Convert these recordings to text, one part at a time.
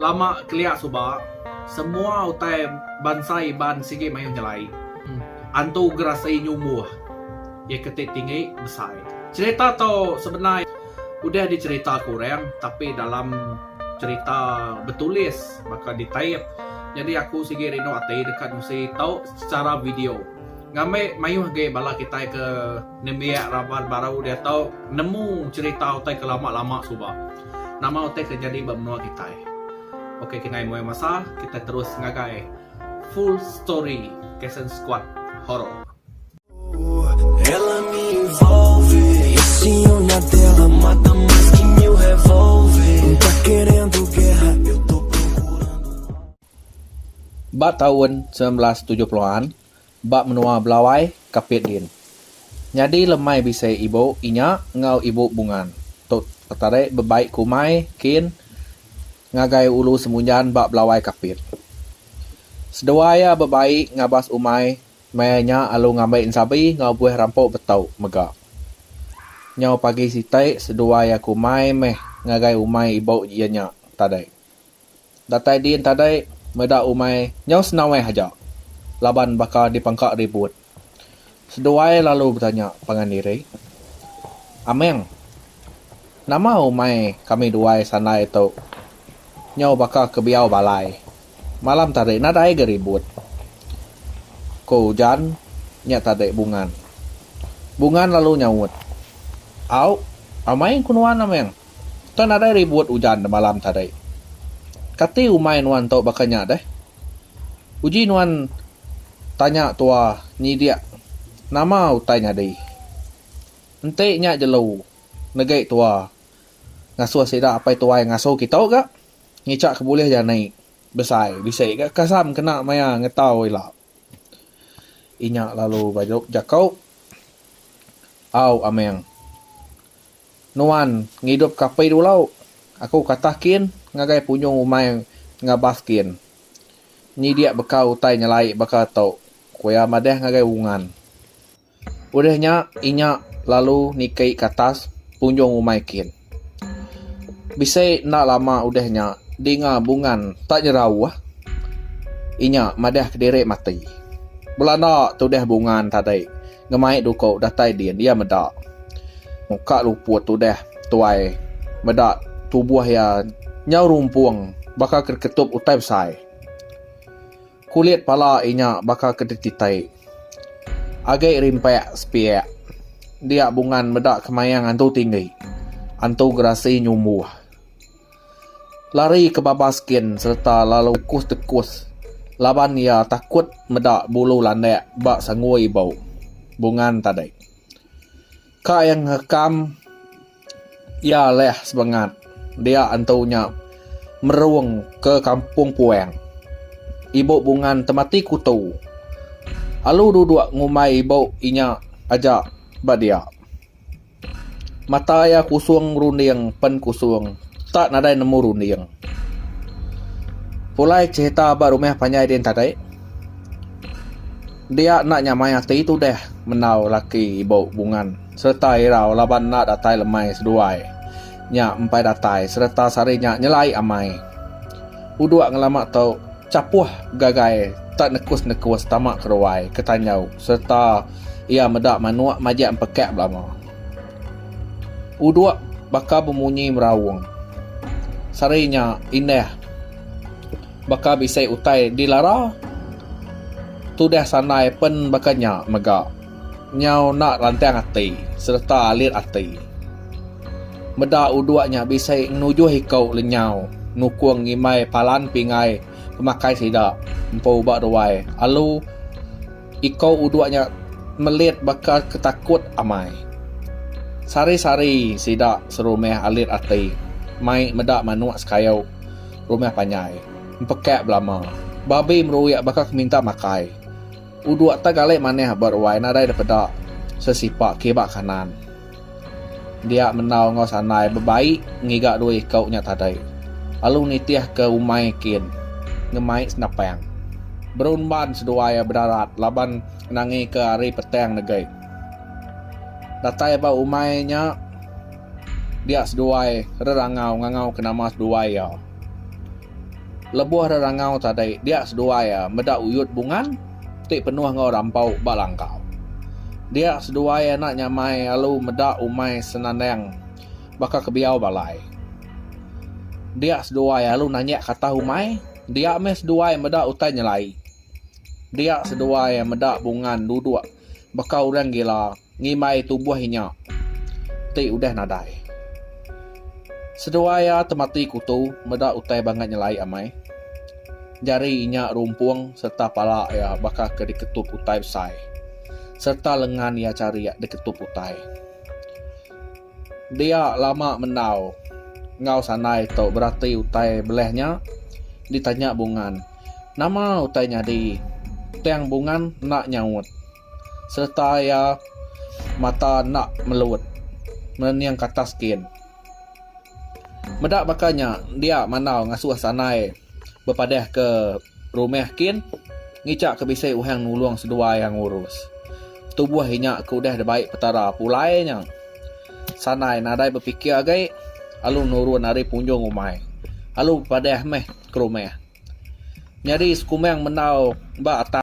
Lama kelia suba, semua utai bansa Iban sigi mayuh nyelai. Antu Gerasei nyumbuh iya ke ti tinggi besai. Cherita tu sebenar udah dicherita ke orang tapi dalam cherita betulis baka di tape nyadi aku sigi rindu ati deka nusi tu secara video. Ngambi mayuh agi bala kitai ke. Nembiak raban baru diatu nemu cerita utai ke lama lama suba. Nama utai ke jadi ba menua kitai. Ok kengai muai masa kitai terus ngagai full story Kasen Squad Horror. Ba taun semilan belas tujuh puluh an, ba menua Belawai, Kapit din. Nyadi lemai bisi ibu inya enggau ibu Bungan. Tu tadi bebai ke umai kin ngagai ulu Semunjan ba Belawai Kapit. Seduai iya bebai ngabas umai maya nya alu ngambi ensabi enggau buih rampu betau mega. Nyau pagi siti seduai iya ke umai meh ngagai umai ibu iya nya tadi. Datai din tadai meda umai nyau senaweh aja laban baka dipangka ribut. Seduai lalu betanya pangan diri, Ameng, nama umai kami duai sandai tu nyau baka kebiau balai, malam tadi nadai ga ribut? Ko ujan nya tadi Bungan. Bungan lalu nyaut, Au, amai ku nuan Ameng. Enda nadai ribut ujan demalam tadi. Kati umai nuan tu baka nya deh? Uji nuan tanya tua nyidik nama utai nyadi. Enti nya jelu negi tua ngasuh sida apai tuai ngasu kitu ga ngichaka bulih jani besai bisi ga kasam kena maya ngetau ila. Inya lalu bejekau, Au Ameng, nuan ngidupka api dulu. Aku katah kin ngagai punyung umai ngabas kin nyidik baka utai nyelai baka tu, ku iya madah ngagai Ungan. Udah nya inya lalu niki ke atas punjung rumah kin. Bisi enda lama udah nya dinga bungan tak nyerauh inya madah kediri mati. Belanda tudah bungan tadi ngemai duko datai din iya meda muka luput udah tuai meda tubuh iya nyau rumpung baka ketup utai besai. Kulit pala inya baka ke dititai. Agi rimpak sepiak. Dia bungan meda kemayang antu tinggi. Antu gerasi nyumbuh. Lari ke babas gin sereta lalu kus tekus laban iya takut meda bulu landak ba sangui bau bungan tadi. Ka iya ngerekam iya leh sebengat dia entu nya merung ke kampung puang. Ibu Bungan temati kutu alu duduk ngumbai ibu inya aja ba dia. Mata iya kusung runding pen kusung tak nadai nemu runding. Pulai cherita ba rumah panjai din tadi. Dia enda nyamai ati tudah mendau laki ibu Bungan sereta irau laban enda datai lemai seduai nya empai datai sereta sehari nya nyelai amai. Uduk ngelama tu, Chapuh gagai tak nekus-nekus tama ke ruai ke tanjau sereta iya meda manuk majak empekak belama. Uduk baka bemunyi meraung. Sehari nya indah. Baka bisi utai dilara. Tudah sandai pen baka nya mega. Nyau enda rantang ati sereta alit ati. Meda uduk nya bisi ngenujuh iku lenyau nukung ngimbai palan pingai pemakai sida empu ba ruai alu. Ikou uduk nya melit baka ke takut amai. Sari-sari sida serumah alit ati mai meda manuk sekayau rumah panjai. Empekak belama, babi meruik baka ke minta makai. Uduk tak galai manah ba ruai nadai depeda sesipak ke ba kanan. Dia menau enggau sandai bebaik ngiga dua iku nya tadi lalu nitih ke umai kin ngemai senapang. Berumban seduai iya bedarat laban nangi ke hari petang negi. Datai ba umai nya dia seduai rerangau ngangau ke nama seduai iya. Lebuh rerangau tadi dia seduai iya meda uyut bungan. ti penuh enggau rampau ba langkau. Dia seduai anak nyamai alu meda umai senandang baka kebiau balai. Dia seduai alu nanjak katah umai, dia meh seduai meda utai nyelai. Dia seduai meda bungan duduk baka orang gila. ngimbai tumbuh inya ti udah nadai. Seduai iya temati kutu meda utai bangat nyelai amai. Jari inya rumpung sereta pala iya baka ke diketup utai besai sereta lengan iya charik diketup utai. Dia lama mendau enggau sandai tu berati utai belah nya ditanya Bungan, Nama utai nyadi tang Bungan enda nyaut? sereta iya mata enda melut merening katas skin. Meda baka nya dia mandau ngasuh sandai bepadahka rumah kin ngica ke bisi orang nulung seduai iya ngurus. Tubuh inya ke udah dibai Petara pulai nya sandai nadai bepikir agi lalu nurun ari punjung umai lalu bepadah meh ke rumah. Nyadi sekumbang mendau ba atas.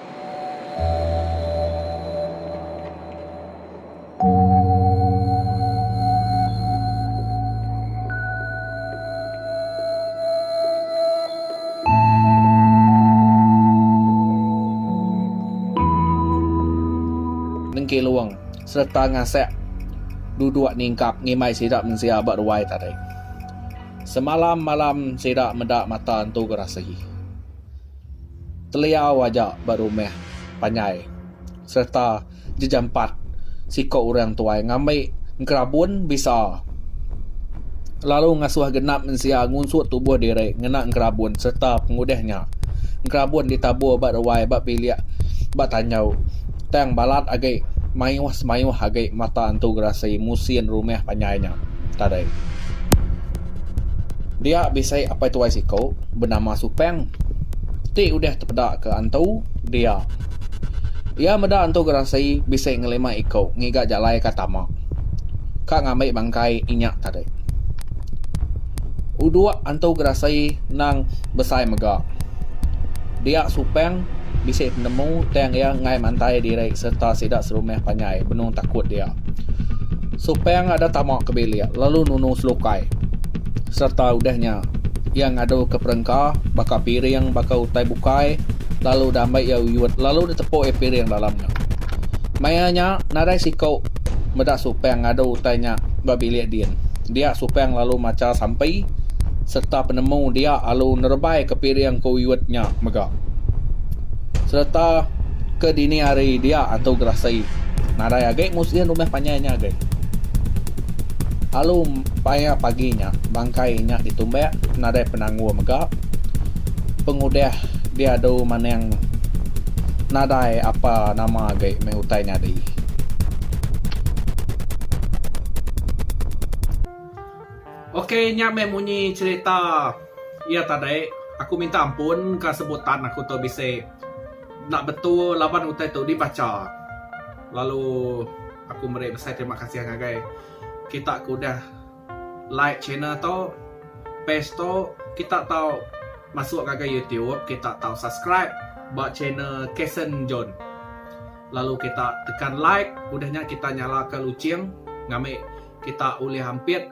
Nengki Long sereta Ngasek duduk ningkap ngimbai sida mensia ba ruai tadi. Semalam malam sida meda mata entu gerasi. teliau aja ba rumah panjai sereta jejampat siko orang tuai ngambi engerabun bisa lalu ngasuh genap mensia ngunsut tubuh diri ngena engerabun sereta pengudah nya engerabun ditabur ba ruai ba bilik ba tanjau tang balat agi mayuh semayuh agi mata entu gerasi musin rumah panjai nya tadai. Dia bisi apai tuai siku benama Supeng ti udah tepeda ke antu dia. Iya meda antu Gerasi bisi ngelima iku ngiga jalai ka tama ka ngambi bangkai inya tadi. Udok antu Gerasi nang besai mega. Dia Supeng bisi penemu tang iya enggai mantai diri sereta sida serumah panjai benung takut dia. Supang ada tama ke bilik lalu nunu selukai serta udah nya iya ngadu ke perengka baka piring baka utai bukai lalu udah ambai iya uyut lalu ditepuk iya piring dalam nya. Maya nya nadai siku meda Supang ngadu utai nya ba bilik din. Dia Supang lalu macha sampi serta penemu dia lalu nerebai ke piring ke uyut nya mega. Sereta ke dini hari dia antu gerasai nadai agi musih rumah panjai nya agi. Alu paya pagi nya bangkai inya ditumbak nadai penanggul mega pengudah diadu maning nadai apa nama agi meh utai nyadi. Ok nya meh munyi cerita. Iya tadi, aku minta ampun ka sebutan aku tu bisi enda betul laban utai tu dibacha. Lalu aku meri besai terima kasih ngagai kita ke udah like channel tu, page tu, kita tau masuk ngagai youtube, kita tau subscribe ba channel Kason John. Lalu kita tekan like, udah nya kita nyalaka luching ngambi kita ulih ampit.